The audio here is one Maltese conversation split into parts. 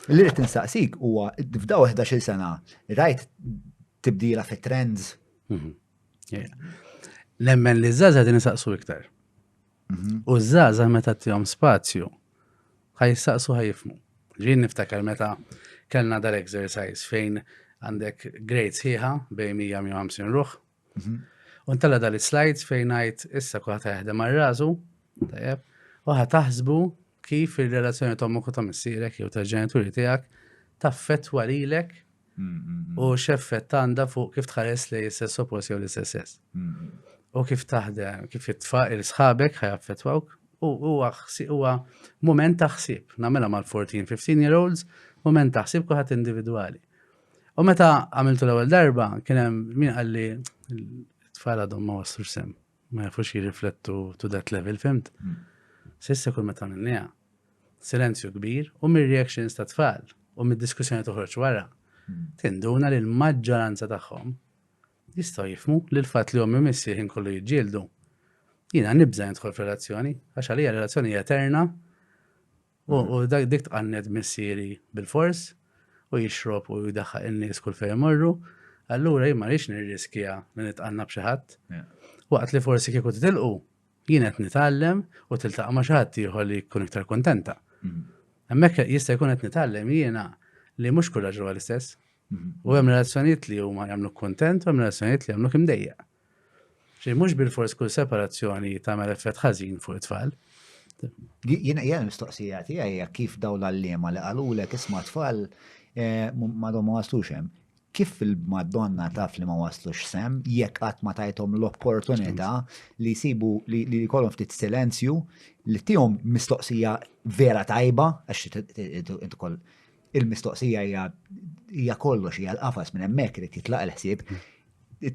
Li rrid insaqsik huwa f'daw 11-il sena rajt tibdila fit-trends? Mhm. Nemmen li żgħażagħ din isaqsu iktar. Mhm. U żgħażagħ meta tihom spazju ħaj jistaqsu ħaj jifmu. Ġien niftakar meta kellna dal-exercise fejn għandek grades ħieħa bejn 150 ruħ U ntella dal slides fejn ngħid issa kulħadd jaħdem għal rażu, tajjeb, u taħsbu kif ir-relazzjoni ta' ommok u ta' missierek jew ta' ġenituri tiegħek taffettwa lilek u x'effett għandha fuq kif tħares li jessess oppost jew l-istess U kif taħdem, kif jitfa' il-sħabek ħajaffettwawk u huwa huwa mument taħsib, nagħmilha mal-14, 15 year olds, mument taħsib kulħadd individwali. U meta għamiltu l-ewwel darba, kien hemm min qalli tfal għadhom ma wassux sem, ma jafux jirriflettu to that level, fimt? Hmm. Sissa kull meta minnija, silenzju kbir u mir-reactions ta' tfal u mid-diskussjoni toħroġ wara, hmm. tinduna li l-maġġoranza tagħhom jistgħu jifmu li l-fatt li ommi missi ħin kollu jiġġieldu. Jiena nibża' jintħol f'relazzjoni, għax għalija relazzjoni eterna U dak dik tqanned missieri bilfors u jixrob u jdaħħaq in-nies kull fejn imorru, allura jien ma rridx nirriskja li nitqanna b'xi ħadd. Waqt li forsi kieku titilqu, jien qed nitgħallem u tiltaqa' ma' xi ħadd ieħor li jkun iktar kuntenta. Mhm. Hemmhekk jista' jkun qed nitgħallem jiena li mhux kull raġel huwa l-istess. Mhm. U hemm relazzjonijiet li huma jagħmluk kuntent u hemm relazzjonijiet li jagħmluk imdejjaq. Xejn mhux bilfors kull separazzjoni tagħmel effett ħażin fuq it-tfal. Jien hija l-mistoqsija tiegħi hija kif dawn l-għalliema li qalulek isma' tfal eh, m'għadhom ma waslux hemm. Kif il-Madonna taf li ma waslux sem jekk qatt ma tajthom l-opportunità li jsibu li li jkollhom ftit silenzju li tihom mistoqsija vera tajba għax int ukoll Il-mistoqsija hija hija kollox hija l-qafas minn hemmhekk irid jitlaq il-ħsieb.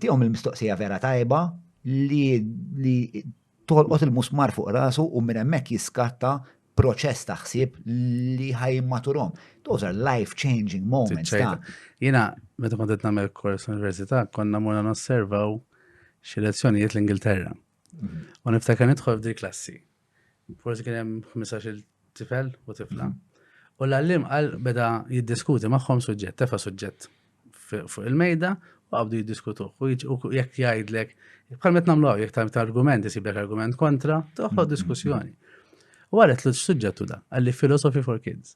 Tihom il-mistoqsija vera tajba li li tolqot il-musmar fuq rasu u minn hemmhekk jiskatta proċess ta' ħsieb li ħajmaturom. Those are life-changing moments. Jina, meta kont qed nagħmel kors università, konna morna nosservaw xi lezzjonijiet l-Ingilterra. Mhm. U niftakar nidħol f'dil klassi. forsi kien hemm 15-il tifel u tifla. U l-għallim qal beda jiddiskuti magħhom suġġett, tefa' suġġett fuq il-mejda u qabdu jiddiskutuh. U jekk jgħidlek, bħal met nagħmlu hawn jekk ta' argument isiblek argument kontra, toħloq diskussjoni. U għalet l suġġettu da, għalli Philosophy for Kids.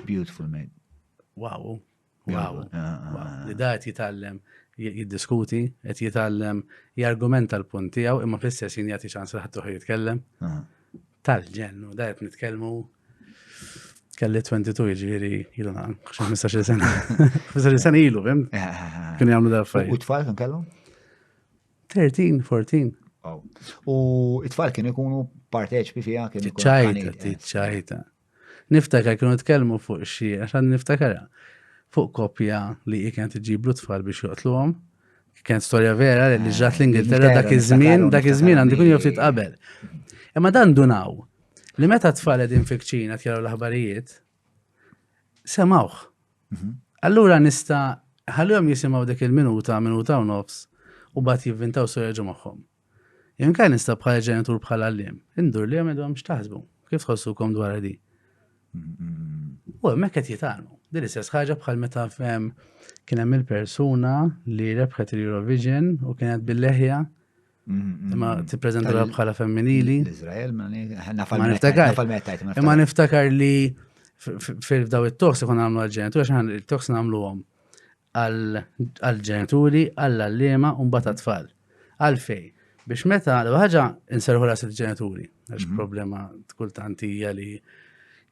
Beautiful, mate. Wow, Għaw, li da qed jitgħallem jiddiskuti, qed jitgħallem jargumenta l-punt tiegħu imma fl-istess jien jagħti ċans li ħadd jitkellem. Tal-ġennu, da qed nitkellmu kelli 22 ġviri ilu naqan, 15 sena. 15 sena ilu, fim? Eh, eh, eh, Kien jgħamlu da fajn. U tfal kien kellhom? 13, 14. U it-tfal kien ikunu parteċpi fija kien ikunu. Ċajta, ċajta. Niftakar kienu tkellmu fuq xi, għax għandi niftakarha, fuq koppja li hi kienet iġiblu tfal biex joqtluhom. Kienet storja vera li eh, ġrat l-Ingilterra dak iż-żmien, dak iż-żmien għandu jkun joftit qabel. Imma dan dunaw li meta tfal qegħdin fikċina kjaru l-aħbarijiet, semawh. Mhm. Allura nista' ħallihom jisimgħu dik il-minuta, minuta u nofs, u bat jivvintaw storja ġu magħhom. Jien kan nista' bħala ġenitur bħala għalliem, indur li għamedhom x'taħsbu, kif tħossukom dwar di. U hemmhekk qed jitgħalmu. Din istess ħaġa bħal meta fem kien hemm il-persuna li rebħet il-Eurovision u kienet bil-leħja imma tippreżentawha bħala femminili. L-Iżrael ma niftakar. Imma niftakar li fil-daw it-toks ikun għamlu għal-ġenitur għax il-toks nagħmluhom għall-ġenituri, għall-għalliema u mbagħad għat-tfal. Għalfej, biex meta l ħaġa inserħu ras il-ġenituri, għax mhm. problema kultant hija li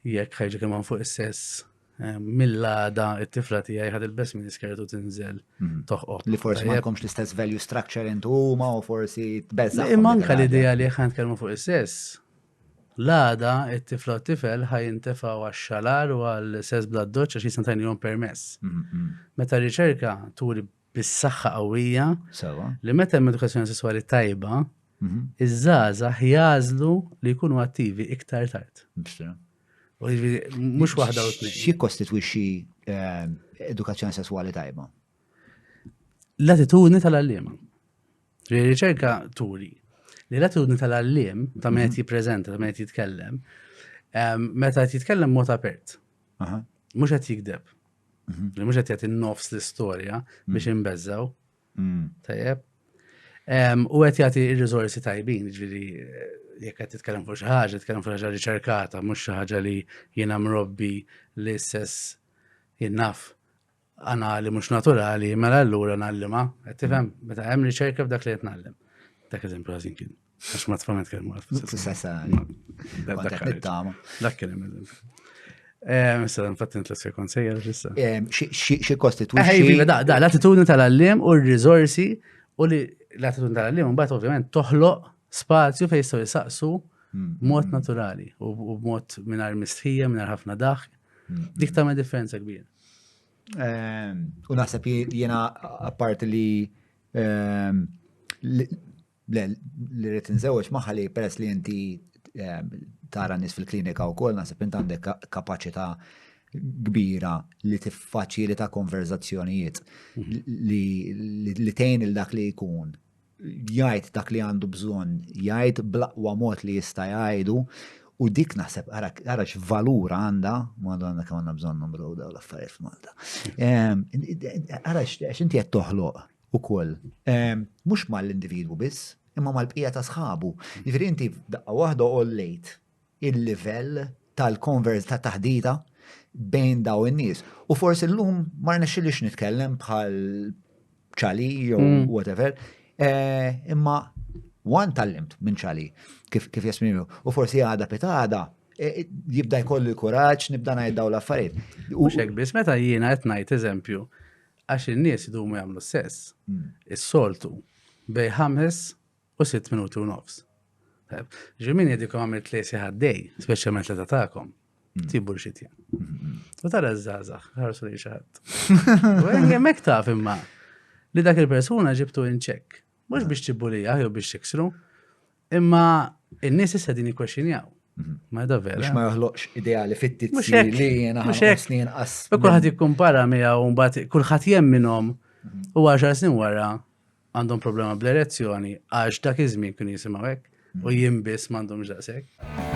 jekk ħajġu kemm fuq is-sess eh, mill-għada it-tifla tijaj ħad il-bess minn iskertu tinżel mhm. toħqoq. Li forsi ma jkomx l-istess value structure intu huma u forsi tbeżza. Imma anka l-idea li ħan kelmu fuq is-sess L-għada, it-tifla u t-tifel ħa jintefgħu għax-xalar u għal sess bla doċċ għax jistgħu tgħinilhom permess. Meta r-riċerka turi bis-saħħa qawwija li meta hemm edukazzjoni sesswali tajba, iż-żgħażagħ jagħżlu li jkunu attivi iktar tard. Mhux waħda u tnejn. Xi jikkostitwixxi eh, edukazzjoni sesswali tajba? L-attitudni tal-għalliema. Riċerka turi li l-attitudni tal-għalliem ta' meta mhm. jippreżenta, ta' meta jitkellem, ehm, meta jitkellem mod apert. Mhux qed jikdeb. Mhm. Mhux qed jagħti nofs l-istorja mhm. biex imbeżżaw. Mm. Tajjeb. Ehm, u qed jagħti r-riżorsi tajbin, ġifieri eh, jekk qed titkellem fuq xi ħaġa, titkellem fuq ħaġa riċerkata, mhux xi ħaġa li jiena mrobbi l-istess jinnaf anali mhux naturali, mela allura nallima, qed tifhem meta hemm riċerka f'dak li qed nallim. Dak eżempju ħażin kien. Għax ma tfhem nitkellmu għal Dak kien hemm eżempju. Eh, issa nfattin t-lessir konsejjer issa. Eh, xi kostitwixxi. Eh, iva, da, da, l-attitudni tal-allim u r-riżorsi u li l-attitudni tal-allim mbagħad ovvjament toħloq spazju fejn jistgħu jisaqsu mm. mod naturali u b'mod mingħajr mistħija, mingħajr ħafna daħk. Mm. Dik tagħmel differenza kbira. Ehm, u naħseb jiena apparti li ehm, li rrit nżewġ maħħa li peress li inti ehm, tara nis fil-klinika u kol naħseb int għandek kapacita kbira li tiffaċili ta' konverzazzjonijiet mhm. li tejn il-dak li jkun jgħid dak li għandu bżonn jgħid bl-aqwa mod li jista' jgħidu u dik naħseb ara x'valur għandha madonna kemm għandna bżonn numru dawn l-affarijiet f'Malta. Ehm, ara għax inti qed toħloq ukoll ehm, mhux mal-individwu biss, imma mal-bqija ta' sħabu. Jiġifieri inti daqqa waħda ollejt il-livell tal-konverz ta' taħdita bejn daw in-nies. U forsi llum ma rnexxilix nitkellem bħal ċali jew mm. whatever, eh, imma wan tallimt minn ċali kif kif jesprimi. U forsi għada pitada eh, jibda jkollu l-kuraġġ nibda ngħid daw l-affarijiet. U xek biss meta jiena qed ngħid eżempju għax in-nies idumu jagħmlu sess. Mm. Is-soltu bej ħames u 6 minuti u nofs. Ġimini dikom għamilt li siħaddej, specialment li tatakom, mm. tibbu l-xitja. Mm-hmm. U tara z-zaza, ħarsu li xaħat. U jemmek taf imma li dak il-persuna ġibtu inċek. Mux biex tibbu li jew biex tiksru, imma il-nis issa din ikwexinjaw. Mm-hmm. Ma da vera. Biex ma joħloqx ideali fittizzi li jena ħasni jenqas. Kullħat jikkumpara miegħu mbagħad kulħadd jemminhom mm-hmm. u għaxar snin wara għandhom problema bl-erezzjoni għax dak iż-żmien kienu jisimgħu hekk u mm. jien biss m'għandhomx daqshekk.